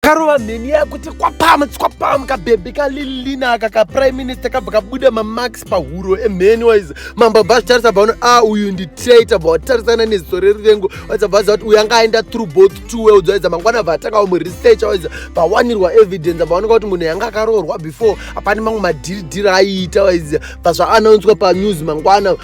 karova mheni yakuti kwapam kwapam kabhebhi kalilina aka kaprime minister kabva kabuda mamax pahuro emheni waiza mambo bva zvitarisa bvaona a ah, uyu ndi traita bva watarisana neziso rerivengo waiza bvaza kuti uyu anga aenda through both two worlds waiza mangwana bva atanga wamuresearcha waiza bvawanirwa evidence bvaoneka kuti munhu yanga akaroorwa before apani mamwe madhiridhiri aiita waiza bva zvaanounswa panews mangwana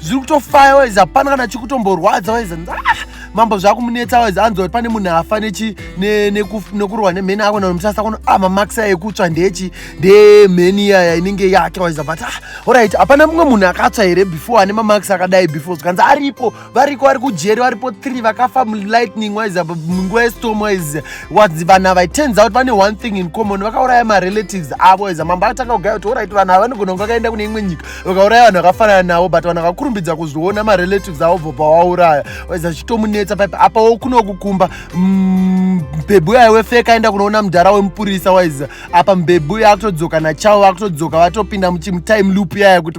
zviri kutofaya waizi hapana kana chikutomborwadza waizi ah, mambo zvakumunetsa waizi anzi wati pane munhu afa nekurohwa nemheni ako namusasa kuno ah, mamax aya ekutsva ndechi ndemheni iyaya inenge yake waizi but ah, orit hapana mumwe munhu akatswa here before ane mamax akadai before zvikanzi aripo variko vari kujeri varipo three vakafa mulightning waizi munguva yestorm waizi waizi vanhu ava turns out vane one thing in common vakauraya marelatives avo waizi mambo akatanga kugaya kuti orit vanhu ava vanogona kunge vakaenda kune imwe nyika vakauraya vanhu vakafanana navo but vanhu vakakurumbidza kuzviona marelatives avo bvobva wauraya waiza chitomunetsa paipa apa wo kunokukumba mm, mbebhu yayo wefeka aenda kunoona mudhara wemupurisa waiza apa mbebhu yaakutodzoka nachavo vakutodzoka vatopinda muchimutime loop yaya kuti